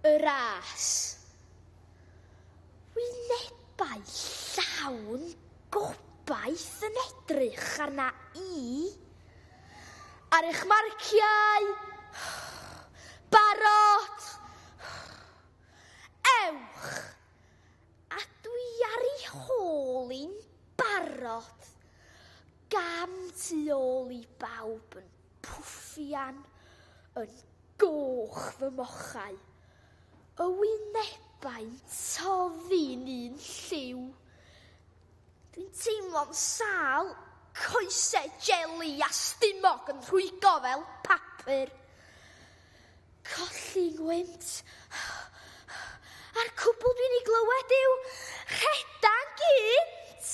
y ras. Wynebau llawn gobaith yn edrych arna i ar eich marciau. Barod! Ewch! A dwi ar ei hôl i'n barod gam tu ôl i bawb yn pwffian yn goch fy mochau, y wynebau'n toddi'n un lliw. Dwi'n teimlo'n sâl, coesau jeli a stumog yn rhwygo fel papur. Colli ngwynt, a'r cwbl dwi'n ei glywed yw rhedan gynt!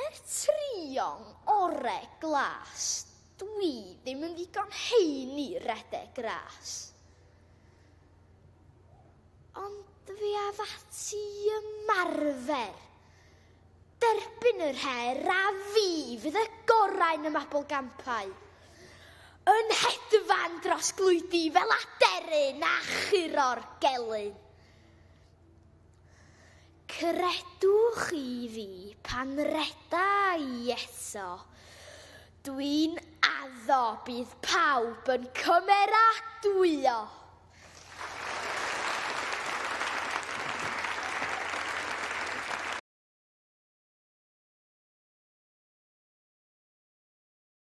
Er trio'n ore glas, dwi ddim yn ddigon hŷn i redeg gras. Ond fe af ati i ymarfer. Derbyn yr her a fi fydd y gorau yn y mabl gampau. Yn hedfan dros glwydi fel aderyn a churo'r gelyn. Credwch chi fi, pan reda i eto, dwi'n addo bydd pawb yn cymeradwyo!